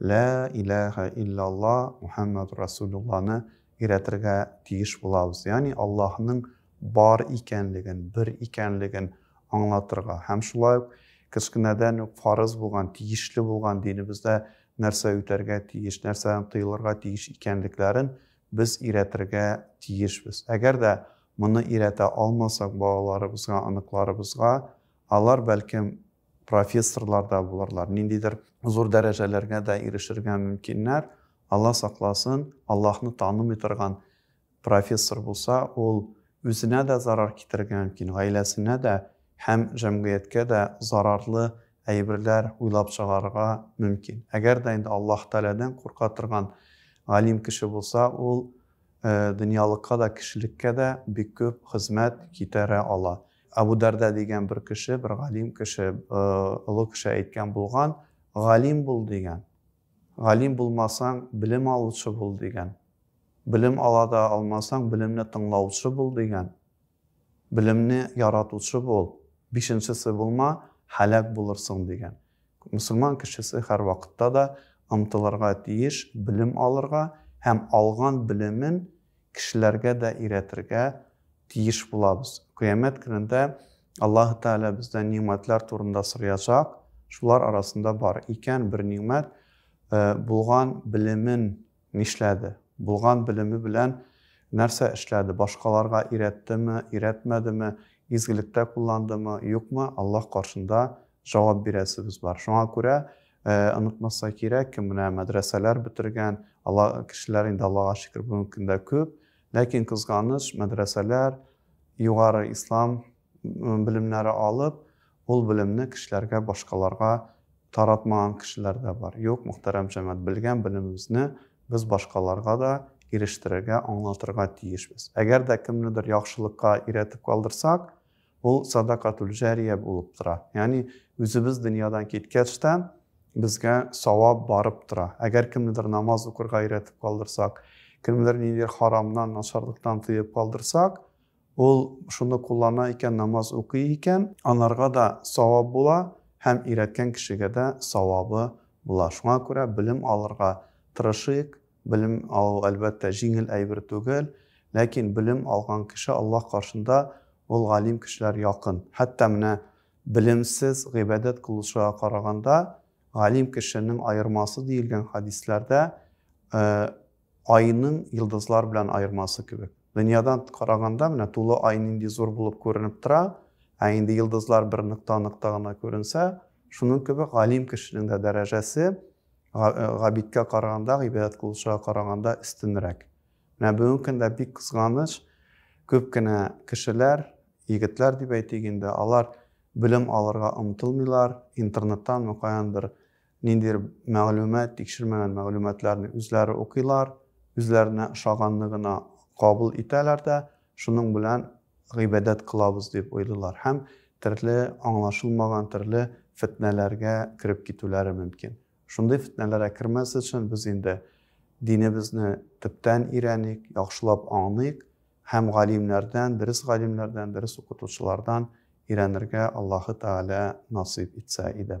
Лә иләһә иллялла Мухәммәд Расулулланы өйрәтергә тиеш булабыз, ягъни Аллаһның бар икәнлеген, бер икәнлеген аңлатырга һәм шулай ук кечкенәдән үк фарыз булган, тиешле булган динебездә нәрсә үтәргә тиеш, нәрсәдән тыелырга тиеш икәнлекләрен без өйрәтергә тиешбез. Әгәр дә моны өйрәтә алмасак балаларыбызга, оныкларыбызга, алар, бәлкем, профессорлар да булырлар, ниндидер зур дәрәҗәләргә дә ирешергә мөмкиннәр. Алла сакласын, Аллаһны танымый торган профессор булса, ул үзенә дә зарар китерергә мөмкин, гаиләсенә дә һәм җәмгыятькә дә зарарлы әйберләр уйлап чыгарырга мөмкин. Әгәр дә инде Аллаһ Тәгаләдән курка торган галим кеше булса, ул э, дөньялыкка да, кешелеккә дә бик күп хезмәт китерә ала. Абу Дарда дигән бер кеше, бер галим кеше, олы кеше әйткән булган, галим бул дигән. Галим булмасаң, белем алучы бул дигән. Белем ала да алмасаң, белемне тыңлаучы бул дигән. Белемне яратучы бул. Бишенчесе булма, һәлак булырсың дигән. Мөселман кешесе һәрвакытта да омтылырга тиеш белем алырга һәм алган белемен кешеләргә дә өйрәтергә тиеш булабыз. Кыямәт көнендә Аллаһы Тәгалә бездән нигъмәтләр турында сораячак, шулар арасында бар икән бер нигъмәт, булган белемен Нишләде? Булган белеме белән нәрсә эшләде? Башкаларга өйрәттеме, өйрәтмәдеме, изгелектә кулландымы, юкмы, Аллаһ каршында җавап бирәсебез бар. Шуңа күрә онытмаска кирәк, кем менә мәдрәсәләр бетергән, Алла кешеләр инде Аллага шөкер бүгенге көндә күп, ләкин кызганыч, мәдрәсәләр, югары ислам белемнәре алып, ул белемне кешеләргә, башкаларга таратмаган кешеләр дә бар. Юк, мөхтәрәм җәмәгать, белгән белемебезне без башкаларга да ирештерергә, аңлатырга тиешбез. Әгәр дә кемнедер яхшылыкка өйрәтеп калдырсак, ул садакатул җәрия булып тора. Ягъни үзебез дөньядан киткәч тә безгә савап барып тора. Әгәр кемнедер намаз укырга өйрәтеп калдырсак, кемнедер ниндидер харамнан, начарлыктан тыеп калдырсак, Ул шуны куллана икән, намаз укый икән, анарга да савап була һәм өйрәткән кешегә дә савабы була. Шуңа күрә белем алырга тырышыйк. Белем алу, әлбәттә, җиңел әйбер түгел, ләкин белем алган кеше Аллаһ каршында ул галим кешеләр якын. Хәтта менә белемсез гыйбадәт кылучыга караганда, галим кешенең аермасы диелгән хәдисләрдә, Айның йолдызлар белән аермасы кебек. Дөньядан караганда менә тулы ай нинди зур булып күренеп тора, ә инде йолдызлар бер нокта-нокта гына күренсә, шуның кебек галим кешенең дә дәрәҗәсе габидкә караганда, гыйбадәт кылучыга караганда өстенрәк. Менә бүгенге көндә бик кызганыч, күп кенә кешеләр, егетләр дип әйтик инде, алар белем алырга омтылмыйлар, интернеттан мөгаен бер Ниндидер мәгълүмат, тикшермәгән мәгълүматларны үзләре укыйлар, үзләренә ошаганны гына кабул итәләр дә, шуның белән гыйбадәт кылабыз дип уйлыйлар һәм төрле аңлашылмаган төрле фетнәләргә кереп китүләре мөмкин. Шундый фетнәләр әкермәс өчен без инде динебезне төптән өйрәник, яхшылап аңлыйк һәм галимнәрдән, дөрес галимнәрдән, дөрес укытучылардан өйрәнергә Аллаһы Тәгалә насыйп итсә иде.